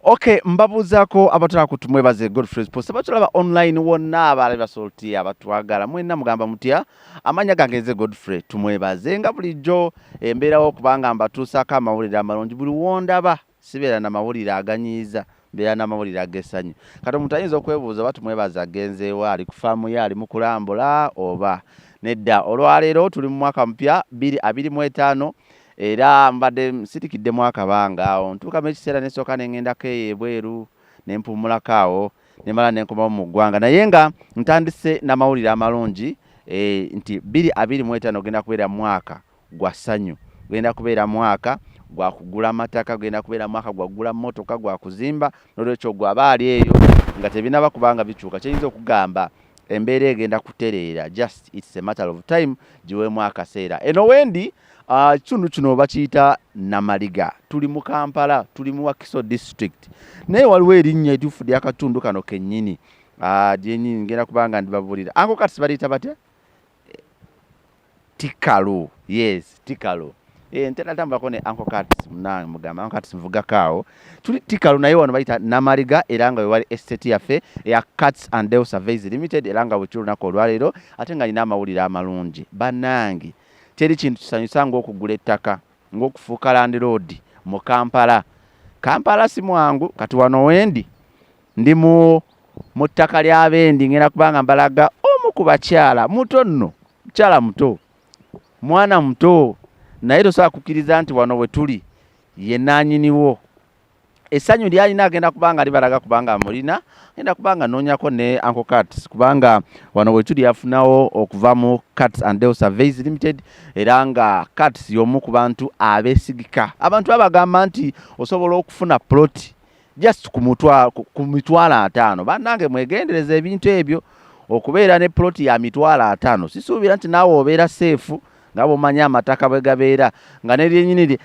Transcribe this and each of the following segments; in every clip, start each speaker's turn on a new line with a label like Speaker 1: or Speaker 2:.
Speaker 1: Okay, mbabuuzaako abatala ku tumwebaze Godfrey's Post abatulaba online wonna abaali basolti abatwagala mwenna mugamba mutya amanya gange nze Godfrey tumwebaze nga bulijjo embeerawo kubanga mbatuusaako amawulire amalungi buli wondaba sibeera na mawulire aganyiiza mbeera n'amawulire ag'essanyu kati omuntu ayinza okwebuuza oba tumwebaza agenzeewa ali ku faamu ye ali mu kulambula oba nedda olwaleero tuli mu mwaka mupya biri abiri mu etaano era mbadde nsirikiddemu akabanga awo ntuukamu ekiseera nesooka ne ŋŋendako eyo ebweru ne mpummulako awo ne mala ne nkomawo mu ggwanga naye nga ntandise n'amawulire amalungi eh, nti biri abiri mu etaano ogenda kubeera mwaka gwa ssanyu. Gugenda kubeera mwaka gwa kugula mataka, gugenda kubeera mwaka gwa kugula mmotoka, gwa kuzimba. N'olwekyo ogwo aba ali eyo nga tebinaba kubanga bikyuka. Kyenyiza okugamba embeera egenda kutereera just it's a matter of time, giweemu akaseera. Eno wendi ah, ekitundu uh, kino bakiyita Namaliga, tuli mu Kampala, tuli mu Wakiso district, naye waliwo erinnya etuufu ly'akatundu kano kennyini ah, lyenyini uh, ngenda kubanga ndibabulira. Anko kati sibaliyita batya? tikalu yes tikalu eh, ntera tambulako ne anko cats munange mugamba anko cats mvugako awo tuli tikalu naye wano bayita namaliga era nga wewali estate yaffe eya cats and del surveys limited era nga bwekiri olunaku olwaleero ate nga nina amawulire amalungi banange teri kintu kisanyusa ngaokugula ettaka ngaokufuuka landiroodi mu kampala kampala si mwangu kati wano wendi Ndi mu mu ttaka ly'abendi ngenda kubanga mbalaga omu ku bakyala muto nno mukyala muto mwana muto naye tosobola kukkiriza nti wano we tuli ye naanyiniwo essanyu lyalina agenda kubanga libalaga kubanga amulina agenda kubanga anoonyako ne anko cats kubanga wano we tuli yafunawo okuva mu cats and del surveys limited era nga cats y'omu ku bantu abeesigika abantu abagamba nti osobola okufuna ploti just ku mitwalo ataano bannange mwegendereza ebintu ebyo okubeera ne ploti ya mitwalo ataano sisuubira nti naawe obeera seefu nga bwomanyi amataka bwe gabeera nga neryenyini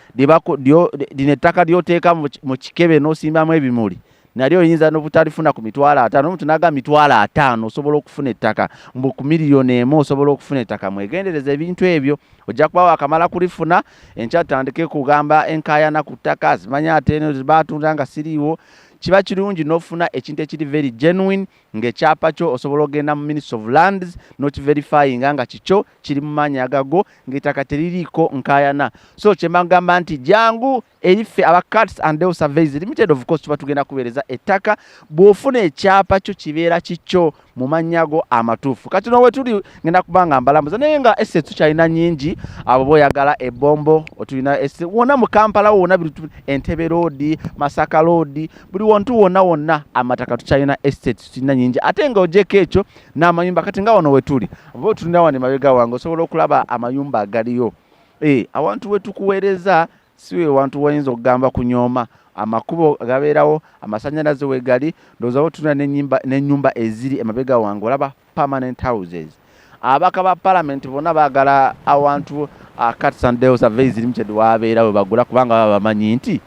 Speaker 1: lino ettaka lyoteeka mu kikebe n'osimbamu ebimuli nalyo oyinza nobutalifuna ku mitwalo ataano omuntu naga mitwalo ataano osobola okufuna ettaka mbu ku miliyoni emu osobola okufuna ettaka mwegendereza ebintu ebyo ojja kuba wakamala kulifuna enkya tutandike kugamba enkayana ku ttaka zimanye ate eno zibatunda nga siriiwo kiba kirungi n'ofuna ekintu ekiri very genuine ng'ekyapa kyo osobola okugenda mu ministry of lands nokiverifyinga nga kikyo kiri mu maanyi agago ng'ettaka teririiko nkayana so kyemagamba nti jangu eriffe aba cats and del surveys limited of course tuba tugenda kuweereza ettaka bw'ofuna ekyapa kyo kibeera kikyo mu mannya go amatuufu kati no wetuli ngenda kubanga mbalamuza naye nga ese tukyalina nyingi abo boyagala ebombo otulina ese wona mu kampala wona bintu entebe loodi masaka loodi buli wontu wona wonna amataka tukyalina ese tulina nyingi ate nga ojeko ekyo n'amayumba kati nga wano wetuli bo tulina wano emabega wange osobola okulaba amayumba agaliyo e awantu wetukuweereza si we wantu wayinza okugamba kunyooma amakubo gabeerawo amasanyalaze wegali ndowooza botuna nenyumba eziri emabega wange olaba permanent houses abaka ba palamenti bonna bagala awantu akatsandelsaveizirimced wabeera we bagula kubanga baba bamanyi nti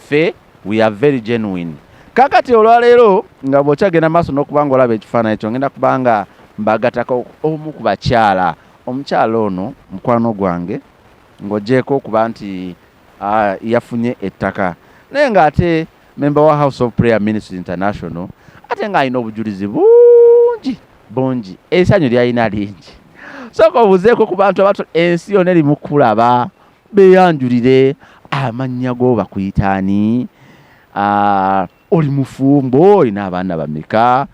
Speaker 1: fe we are very genuine kakati olwaleero nga bwokyagenda maaso nokubanga olaba ekifaananyi kyo ngenda kubanga mbagatako omu ku bakyala omukyala ono mukwano gwange Ng'oggyeeko okuba nti yafunye ettaka naye ng'ate memba wa House of Prayer Ministry International ate ng'alina obujulizi bungi bungi, esanyu lyalina lingi. Sooka obuzeeko ku bantu abato ensi yona eri mukulaba, beyanjulire amannya go bakuyita ani, ah, oli mufumbo, olina abaana bameka,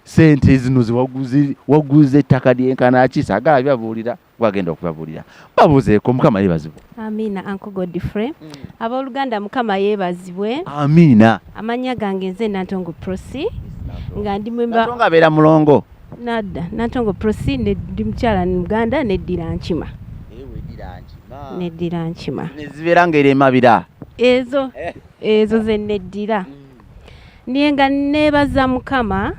Speaker 1: sente zino ziwaguze ettaka lyenkanaki, sagala byabuulira. gwagenda okubabulira babuzeeko mukama yebazibwe amiina anko
Speaker 2: godfrey mm. abooluganda mukama yebazibwe amiina
Speaker 1: amannya gange nze
Speaker 2: nantongo prosi nga ndi mwembatongo abeera mulongo
Speaker 1: nadda nantongo
Speaker 2: prosi ndi mukyala ni muganda neddira nkima neddira nkima nezibeera ngaera emabira
Speaker 1: ezo
Speaker 2: ezo zeneddira mm. naye nga neebaza mukama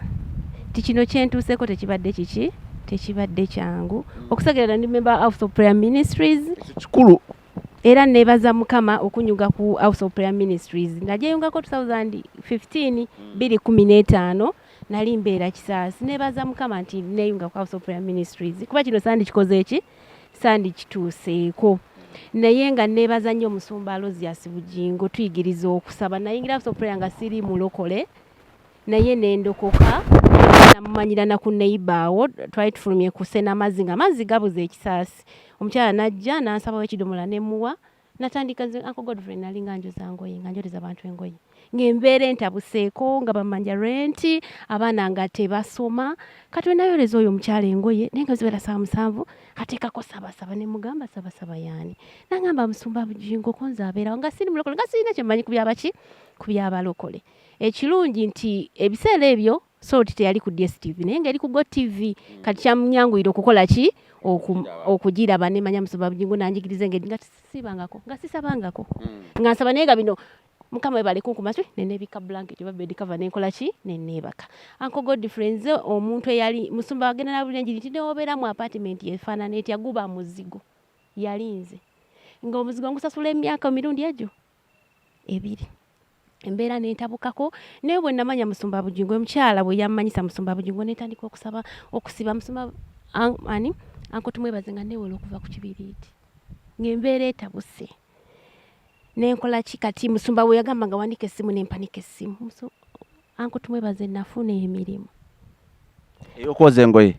Speaker 2: ti kino kyentuuseko tekibadde kiki tekibadde kyangu okusegerera ndi member house of prayer ministries kikulu
Speaker 1: era
Speaker 2: neebaza mukama okunyuga ku house of prayer ministries najeyungako 2015 215 nali mbeera kisaasi neebaza mukama nti neeyunga ku house of prayer ministries kuba kino sandi kikoze eki sandikituuseeko naye nga nebaza nnyo omusumba aloziasi bugingo tuyigiriza okusaba nayingira sopuleya nga siri mulokole naye nendokoka namumanyira naku neiba awo twali tufulumye kusena amazzi nga amazzi gabuza ekisaasi omukyala najja nansabawo ekidomola nemuwa natandika nze uncle godfrey nali nga njoza ngoye nga njoleza abantu engoye ng'embeera entabuseeko nga bamanja renti abaana nga tebasoma kati wenayoleza oyo omukyala engoye naye nga zibeera saa musanvu ateekako sabasaba ne mugamba sabasaba yaani nangamba musumba bujingo konza abeerawo nga siri mulokole nga sirina kyemanyi ku byabaki ku byabalokole ekirungi nti ebiseera ebyo salt teyali ku dstv naye ngaeri ku go tv kati kyamunyanguyira okukola ki okugiraba nemanya musoba bujingo nanjigiriza engeri nga sibangako nga sisabangako hmm. nga nsaba naye nga bino mukama webale kunkuma ki nenebika blanket oba bed cover nenkola ki neneebaka anko god friends omuntu eyali musumba wagenda nabulira enjiri nti newobeera mu apartment efaanana etya guba muzigo yalinze nga omuzigo ngusasula emyaka mirundi egyo ebiri embeera nentabukako naye bwe namanya musumba bujingo omukyala bwe yammanyisa musumba bujingo netandika okusaba okusiba musumba ani anko tumwebaze nga newola okuva ku kibiriiti ngaembeera etabuse nenkola ki kati musumba we yagamba nga wandika essimu nempanika essimu anko tumwebaze nafuna emirimu
Speaker 1: eyokwoza engoye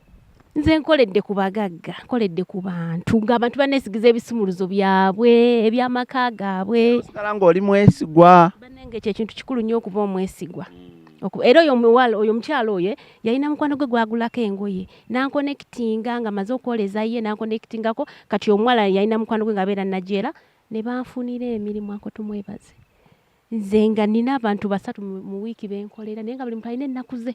Speaker 1: nze nkoledde
Speaker 2: ku bagagga nkoledde ku bantu ngaabantu banesigiza ebisumuluzo byabwe ebyamaka gaabwe osigala ngaoli mwesigwa
Speaker 1: banange ekyo ekintu
Speaker 2: kikulu nnyo okuba omwesigwa hmm. era oyo omuwala oyo omukyalo oyo yalina mukwano gwe gwagulako engoye nankonekitinga nga maze okwoleza ye nankonekitingako kati omuwala yalina mukwano gwe nga abeera najeera ne banfunira emirimu ako tumwebaze nze nga nina abantu basatu mu wiiki benkolera naye nga buli muntu alina ennaku ze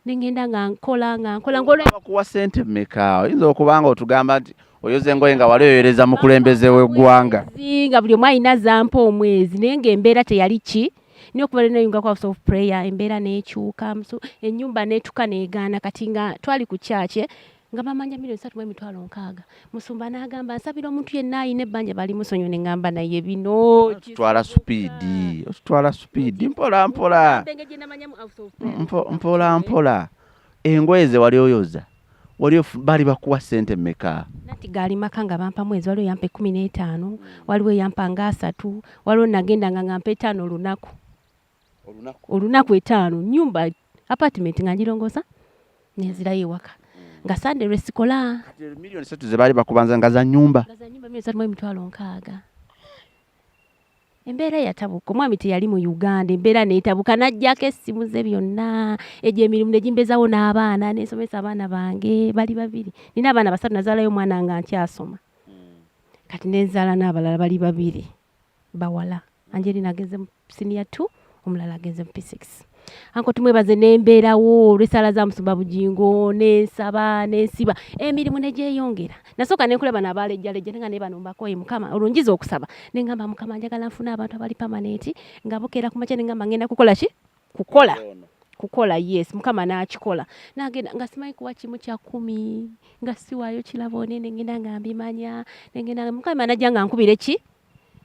Speaker 2: nengenda nga nkola nga nkola ngolkuwa
Speaker 1: sente meka oyinza okuba nga otugamba nti oyoza engoye nga wali oyoereza mukulembeze weggwanga nga buli omu alina
Speaker 2: zampa omwezi naye nga embeera teyali ki naye okuva lenayunga ku house of prayer embeera nekyuka ennyumba netuka negaana kati nga twali ku kyakye nga bamanja milioni satu mu emitwalo nkaaga musumba n'agamba nsabira omuntu yenna alina ebbanja bali musonyiwe ne ŋŋamba naye bino otutwala supiidi
Speaker 1: otutwala supiidi mpola mpola mpola mpola engoye ze wali oyoza wali bali bakuwa sente meka nati gaali maka nga
Speaker 2: bampa mwezi waliwo yampa ekkumi n'etaano waliwo eyampa nga asatu waliwo nagenda nga ngampa etaano olunaku olunaku etaano nyumba apartment nga ngirongosa nenzirayo ewaka nga sande lwesikola milioni satu zebaali
Speaker 1: bakubanza nga za nyumba emitwalo
Speaker 2: nkaaga embeera yatabuka omwami teyali mu uganda embeera netabuka najjako essimu ze byonna egyo emirimu negimbezawo n'abaana nensomesa abaana bange bali babiri nina abaana basatu nazaalayo omwana nga nkyasoma kati nenzaala n'abalala bali babiri bawala angelina agenze mu siniya t omulala agenze mu p6 anko tumwebaze nembeerawo olwesala za musumba bugingo nensaba nensiba emirimu negyeyongera nasooka nenkulaba nabaalejjalejja nenga naye banombakoye mukama olunjiza okusaba nengamba mukama njagala nfuna abantu abali pamanenti nga bukeera kumakya nengamba ngenda kukola ki kukola kukola yes mukama n'akikola nagenda nga simanyi kuba kimu kya kumi nga siwaayo kirabo ne nengenda nga mbimanya nengenda mukama najja nga nkubire ki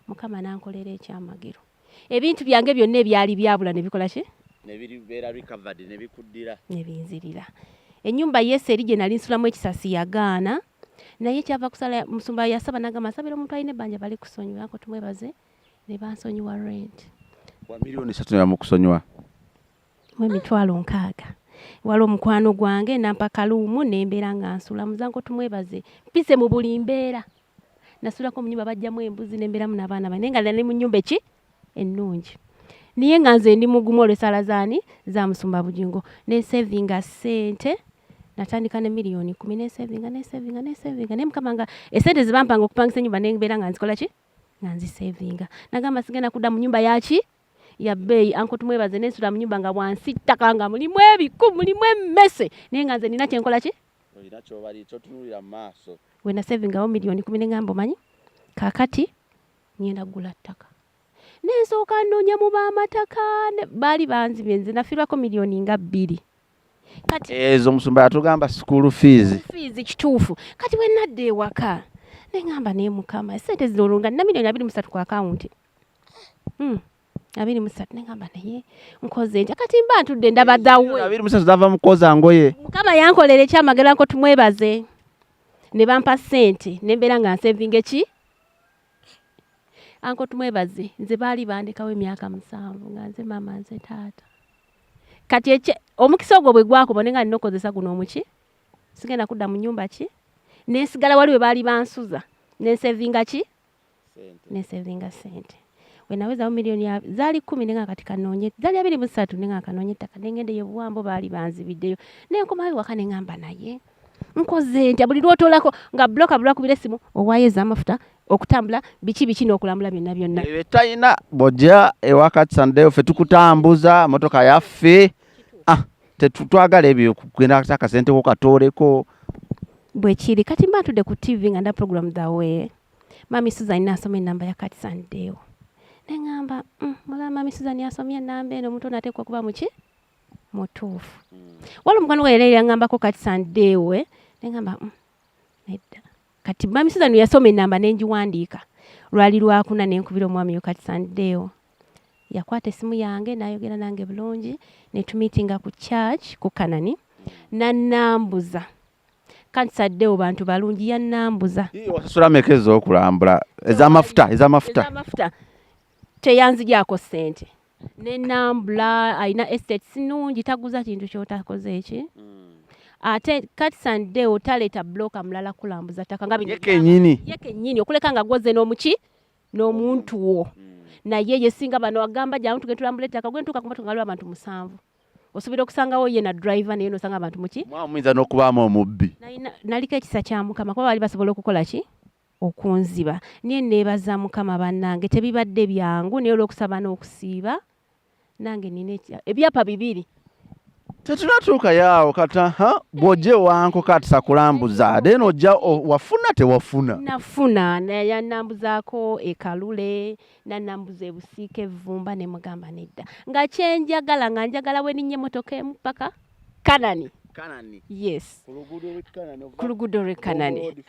Speaker 2: mukama nankolera ekyamagero ebintu byange byonna ebyali byabula ne bikola ki nebibeera
Speaker 1: recovered ne bikuddira ne binzirira
Speaker 2: ennyumba yesu eri gye nali nsulamu ekisasi yagaana naye kyava kusala musumba yasaba nagamba nsabira omuntu alina ebbanja bali kusonyiwa ako tumwebaze ne bansonyiwa rent wa milioni
Speaker 1: esatu nebamukusonyiwa mu emitwalo nkaaga
Speaker 2: waliwo mukwano gwange nampa kaluumu nembeera nga nsula muzanko tumwebaze mpise mu buli mbeera nasulako mu nyumba bajjamu embuzi nembeeramu nabaana bane nga nali mu nyumba eki ennungi niye nga nze ndi mugumu olwesala zaani za musumba bujingo nesevinga sente natandika ne miliyoni kumi nesevinga nesevinga nesevinga naye mukama nga esente zebampanga okupangisa enyumba nembeera nga nzikola ki nga nzisevinga nagamba sigenda kudda mu nyumba yaki ya bbeeyi anko tumwebaze nensula mu nyumba nga wansi ttaka nga mulimu ebiku mulimu emmese naye nga nze nina kyenkola ki
Speaker 1: wena sevingawo
Speaker 2: miliyoni kumi nengamba omanyi kakati ngenda kugula ttaka nensooka nnoonya mu baamataka baali banzibye nze nafirwako miliyoni nga bbiri kati ezo eh, musumba
Speaker 1: yatugamba school fees fees kituufu
Speaker 2: kati bwe nadda ewaka ne ngamba naye mukama sente zino olunga nina milioni abiri musatu ku akawunti hmm. abiri musatu ne ngamba naye nkoze ntya kati mba ntudde ndaba dawe abiri musatu zava mukoza
Speaker 1: ngoye mukama yankolera
Speaker 2: ekyamagera nko tumwebaze ne bampa sente ne mbeera nga nsevinga eki anko tumwebaze nze baali bandekawo emyaka musanvu nga nze maama nze taata kati ekye omukisa ogwo bwe gwakuba ne nga nina okukozesa guno omuki sigenda kudda mu nyumba ki nensigala wali we baali bansuza nensevinga ki nensevinga sente wenawezawo miliyoni zaali kumi nenga kati kanoonye zaali abiri musatu nenga kanoonye ettaka nengendeyo buwambo baali banzibiddeyo nenkomawo ewaka nengamba naye nkoze ntya buli lwotolako nga bloka bulwakubira esimu owayo ezamafuta okutambula biki biki nokulambula byonna byonna ebitalina
Speaker 1: boja ewakati sandeyo fe tukutambuza motoka yaffe ah, tetutwagala ebyo kugenda akasente ko katooleko
Speaker 2: bwekiri kati mba ntudde ku tv nga nda program the way mami susan nasoma enamba ya kati sandeyo neŋamba mm, mulaba mami susan asomye enamba eno omuntu onateekwa kuba muki mutuufu waliwo omukwano gwa yali yangambako kati sandeewe nengamba mm, nedda kati mami suzan yasoma enamba nengiwandiika lwali lwakuna nenkubira omwami yo kati sandeewo yakwata esimu yange nayogera nange bulungi netumitinga ku church ku kanani nanambuza kati saddewo bantu balungi yanambuza osasula meka
Speaker 1: ezokulambula ezamafuta ezamafuta teyanzigyako sente nenambula alina estate sinungi taguza kintu kyotakoze eki mm. ate katisande otaleeta bloka mulala kulambuza ttaka nga bino ye kenyini okuleka nga gwoze
Speaker 2: n'omuki n'omuntu wo mm. naye yesinga bano agamba jamu tugenda tulambula ettaka gwentuuka kumatu ngaliwo abantu musanvu osuubira okusangawo ye na driver naye nosanga abantu muki muyinza n'okubaamu
Speaker 1: omubbi naliko ekisa
Speaker 2: kya mukama kuba baali basobola okukola ki okunziba naye neebaza mukama bannange tebibadde byangu naye olwokusaba n'okusiiba nange nina ebyapa bibiri
Speaker 1: tetunatuukayo awo kata ha bw'ojja ewanko kati sakulambuza then ojja wafuna tewafuna nafuna
Speaker 2: nayanambuzaako ekalule nanambuza ebusiika evvumba ne mugamba nedda nga kyenjagala nga njagala weninnya emmotoka emu paka Kanani. Kanani. Yes. Ku luguudo lw'e Kanani. Ku luguudo lw'e Kanani.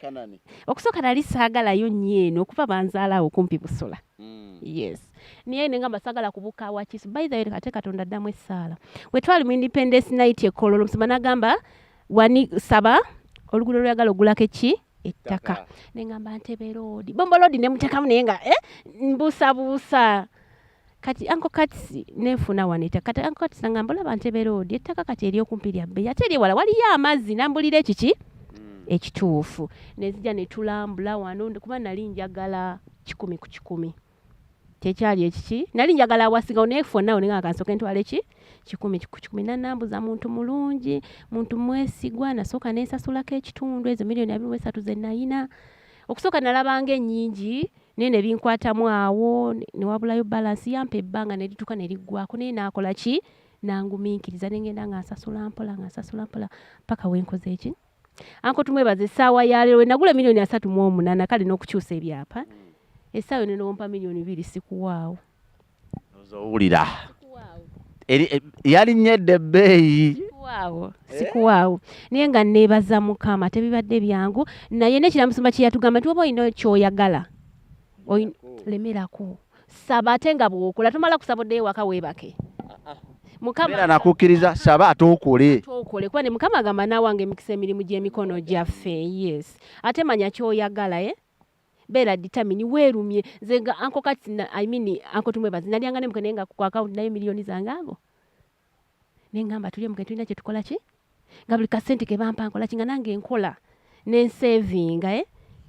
Speaker 2: Kanani. Okusooka nali saagalayo nnyo eno okuva banzaalawo kumpi Busula. Mm. Yes. Naye ne ngamba saagala kubuuka wa Kisu. By the way, ate Katonda addamu essaala. Bwe twali mu Independence Night e Kololo, omusumba n'agamba wani saba oluguudo lw'oyagala ogulako eki ettaka. Ne ngamba Ntebe Road. Bombo Road ne muteekamu naye nga eh, mbuusabuusa. kati anko katisi nenfuna waneta kati anko katisi nangamba olaba ntebe loodi ettaka kati eri okumpi lya bbeyi ate eri ewala waliyo amazzi nambulira ekiki hmm. ekituufu nezija netulambula wano kuba nali njagala kikumi ku kikumi kyekyali ekiki nali njagala awasinga onefonawo ninga kansoke ntwala eki kikumi kikumi nanambuza muntu mulungi muntu mwesigwa nasooka nensasulako ekitundu ezo miliyoni abiri mu esatu zenayina okusooka nalabanga ennyingi naye ne binkwatamu awo ne wabulayo balansi yampa ebbanga ne lituuka ne liggwako naye naakola ki nangumiikiriza ne ngenda nga nsasula mpola nga nsasula mpola paka we nkoze eki anko tumwebaza essaawa ya leero we nagula emiliyoni asatu mu omunaana kale n'okukyusa ebyapa essaawa eno newompa miliyoni biri sikuwaawo
Speaker 1: owulira eh, yalinnya edda ebbeeyi sikuwaawo
Speaker 2: eh? naye nga neebaza mukama tebibadde byangu naye nekiramusumba kyeyatugamba nti oba olina kyoyagala lemerako saba ate nga bwokola tomala kusaba oddeyo waka weebake ah, ah. mukama
Speaker 1: nakukkiriza saba ate okole okole kuba ne mukama
Speaker 2: agamba naawange emikisa emirimu gy'emikono gyaffe yes ate manya kyoyagala e eh? beera determine weerumye nze nga anko kati i mean anko tumwebazi nalyanga ne mukene nga ku account nayo miliyoni zange ago ne ngamba tulye mukene tulina kye tukola ki nga buli kasente ke bampa nkola ki nga nange nkola ne nsavinga eh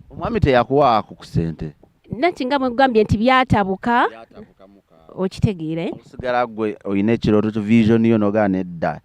Speaker 2: omwami
Speaker 1: teyakuwa ku kusente nati nga mwegambye
Speaker 2: nti byatabuka okitegeere eh? osigala
Speaker 1: gwe olina ekirooto vision yo nogaa nedda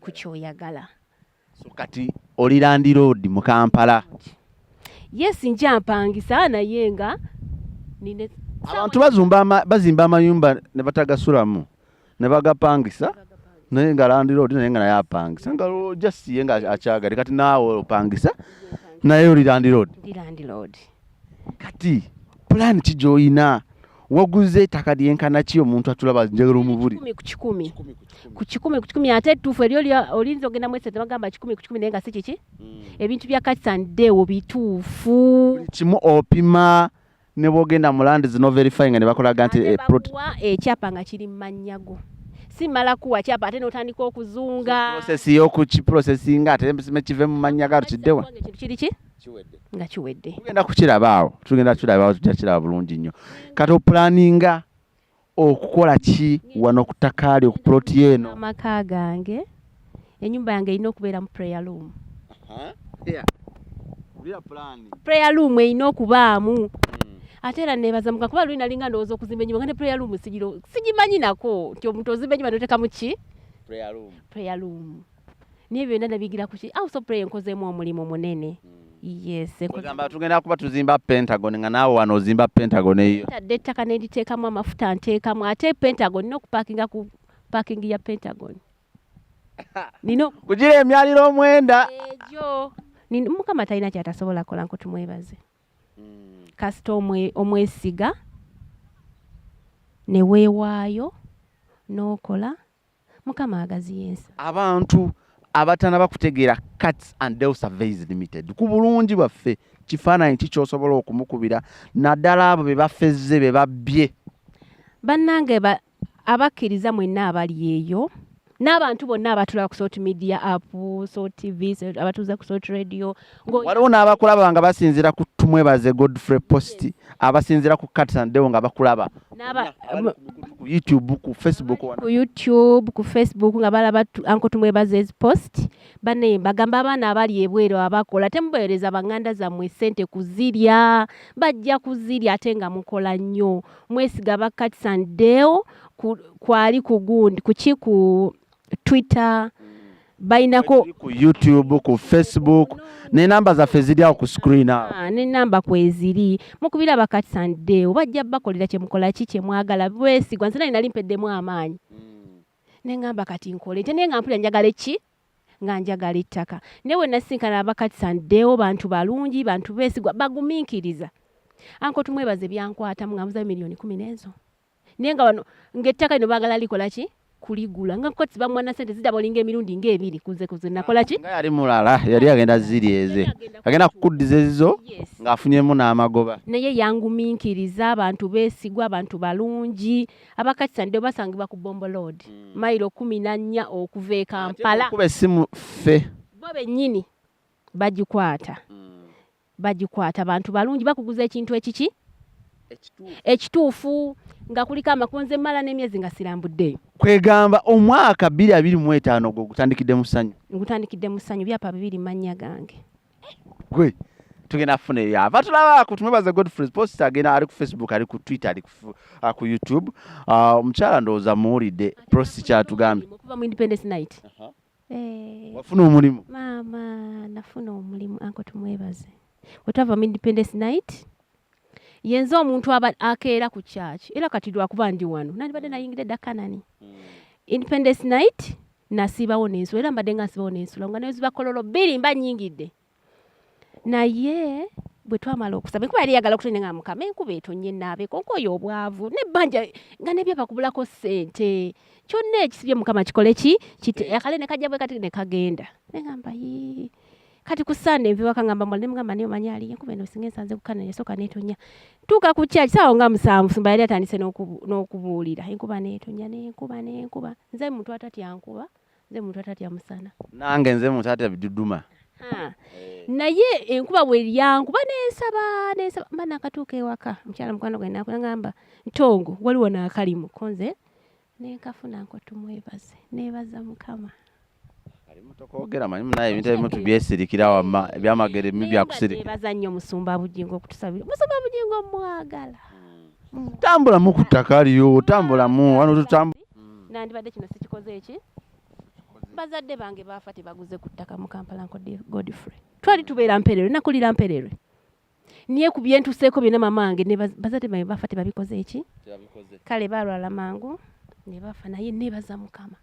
Speaker 1: ku kyoyagala so kati oli landiroodi mu kampala yes
Speaker 2: nja mpangisa naye nga nine
Speaker 1: abantu bazumba bazimba amayumba ne batagasulamu ne bagapangisa naye nga landiroodi naye nga naye apangisa nga just ye nga akyagale kati naawe opangisa naye oli landiroodi
Speaker 2: kati
Speaker 1: pulaani ki gy'olina waguze ettaka lyenkana ki omuntu atulaba njagala omubuli
Speaker 2: ku kikumi ku kikumi ate ettuufu eri olinza ogenda mu esente bagamba kikumi ku kikumi naye nga si kiki hmm. ebintu bya kakisaniddeewo bituufu kimu opima
Speaker 1: ne bwogenda mu landi zino verifyinga ne bakolaga nti eh, ekyapa nga
Speaker 2: kiri mu mannya go si mala kuwa kyapa ate n'otandika okuzunga process
Speaker 1: y'okukiprocesinga ate ne kive mu mannya ga tukiddewa kiri ki
Speaker 2: nga kiwedde tugenda kukirabaawo
Speaker 1: tugenda kukirabaawo tujja kiraba bulungi nnyo kati opulaninga okukola ki wano ku ttaka lyo ku puloti eno amaka gange
Speaker 2: enyumba yange erina okubeera mu prayer room prayer room erina okubaamu hmm. ate era nebaza muka kuba luli nalinga ndowooza okuzimba enyumba nga ne prayer room sigiro sigimanyi nako nti omuntu ozimba enyumba notekamu ki prayer room naye byonna nabigira kuki also pray nkozeemu omulimu munene yesegamba tugenda
Speaker 1: kuba tuzimba pentagon nga naawe wano ozimba pentagon eyo tadde ettaka neriteekamu
Speaker 2: amafuta nteekamu ate pentagon nina okupakinga ku paking ya pentagon nina kugira emyaliro
Speaker 1: omwenda egyo
Speaker 2: mukama talina kyatasobola kola nko tumwebaze hmm. kasita omwesiga neweewaayo n'okola mukama agaziya ensi abantu
Speaker 1: abatana bakutegeera cats and del surveys limited ku bulungi bwaffe kifaananyi ki kyosobola okumukubira naddala abo be bafezze be babbye bannange
Speaker 2: abakkiriza mwenna abali eyo n'abantu bonna abatula ku salt media app salt tv abatuuza ku salt radio waliwo n'abakulaba
Speaker 1: nga basinzira ku tumwebaze godfrey post abasinzira ku katsandeo nga bakulaba ku youtube ku facebook ku youtube ku
Speaker 2: facebook nga balaba anko tumwebaze ezi post bane bagamba abaana abali ebweru abakola temubawereza banganda zammwe sente kuzirya bajja kuzirya ate nga mukola nnyo mwesiga ba katsandeo kwali kugundi kukiku twitter balinako ku youtube
Speaker 1: ku facebook nenamba zaffe ziri awo ku screen awo ah, nenamba kweziri
Speaker 2: mukubira bakati sande obajja bakolera kyemukola ki kyemwagala bwesigwa nze nali nali mpeddemu amaanyi hmm. nengamba kati nkole nte naye nga mpulira njagala eki nga njagala ettaka naye wenasinkana abakati sandewo bantu balungi bantu besigwa baguminkiriza anko tumwebaze byankwatamu nga muzayo miliyoni kumi n'ezo naye nga wano ngaettaka lino baagala likola ki kuligula nga koti bamwana sente zidaba olinga emirundi nga ebiri kuze kuze nakola ki nga yali mulala
Speaker 1: yali agenda ziri eze agenda kukuddiza ezizo ng'afunyemu n'amagoba naye yanguminkiriza
Speaker 2: abantu beesigwa abantu balungi abakatisa ndio basangibwa ku bombo load hmm. mayiro kumi na nnya okuva e kampala kuba essimu ffe
Speaker 1: bo bennyini
Speaker 2: bagikwata hmm. bagikwata bantu balungi bakuguza ekintu ekiki ekituufu nga kuliko amakonze mala n'emyezi nga sirambuddeyo kwegamba
Speaker 1: omwaka bbiri abiri mu etaano gwe ogutandikidde mu ssanyu ngutandikidde mu ssanyu
Speaker 2: byapa bibiri mannya gange gwe
Speaker 1: tugenda kufuna ebyava tulaba ku tumwebaza godfrey post agenda ali ku facebook ali ku twitter ali ku uh, youtube uh, omukyala ndowooza muwulidde prosi kyatugambye
Speaker 2: Eh.
Speaker 1: wafuna omulimu maama
Speaker 2: nafuna omulimu anko tumwebaze wetwava mu independence night yenze omuntu aba akeera ku kyaki era kati lwakuba ndi wano nandibadde mm. nayingidde dda kanani mm. independence night nasiibawo nensula era mbadde nga nsibawo nensula nga neziba kololo bbiri mba nyingidde naye bwe twamala okusaba enkuba yali yagala okutonnya nga mukama enkuba etonnya enaabeeko nkoyo obwavu nebbanja nga nebyo bakubulako ssente kyonna ekisibye mukama kikole ki kite eh. akale ne kajja bwe kati ne kagenda negamba yii kati ku sande nve wakangamba mbwa nemugamba naye omanyi aliyo kuba eno singa ensanze kukana nesooka neetonya tuuka ku kyaki saawa nga musanvu sumba yali atandise n'okubuulira enkuba neetonya nenkuba nenkuba nze muntu atatya nkuba nze muntu atatya musana nange nze muntu
Speaker 1: atatya biduduma eh.
Speaker 2: naye enkuba bweryankuba nensaba nensaba mba nakatuuka ewaka mukyala mukwano gwe nakulangamba ntongo waliwo nakalimu konze nenkafuna nkotumwebaze nebaza mukama
Speaker 1: tokogera manyi munaye ebintu ebimu tubyesirikira wama ebyamagero ebimu byakusirikira nebaza nnyo musumba
Speaker 2: bujingo okutusabira musumba bujingo mwagala hmm. mm.
Speaker 1: tambulamu ku ttaka liyo tambulamu wano tutambula mm. nandibadde kino
Speaker 2: sikikoze eki bazadde bange baafa tebaguze ku ttaka mu kampala nko godfrey twali tubeera mpererwe nakulira mpererwe niye ku byentuseeko byonna mama wange bazadde bange baafa tebabikoze eki kale balwala mangu ne bafa naye nebaza mukama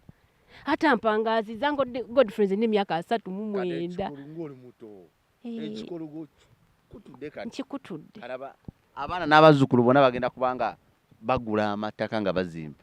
Speaker 2: hata mpangaazi zango godfrey nze nemyaka asatu mu mwenda
Speaker 1: ekikulugu kutudde kati kikutudde alaba abaana n'abazzukulu bona bagenda kubanga bagula amattaka nga bazimba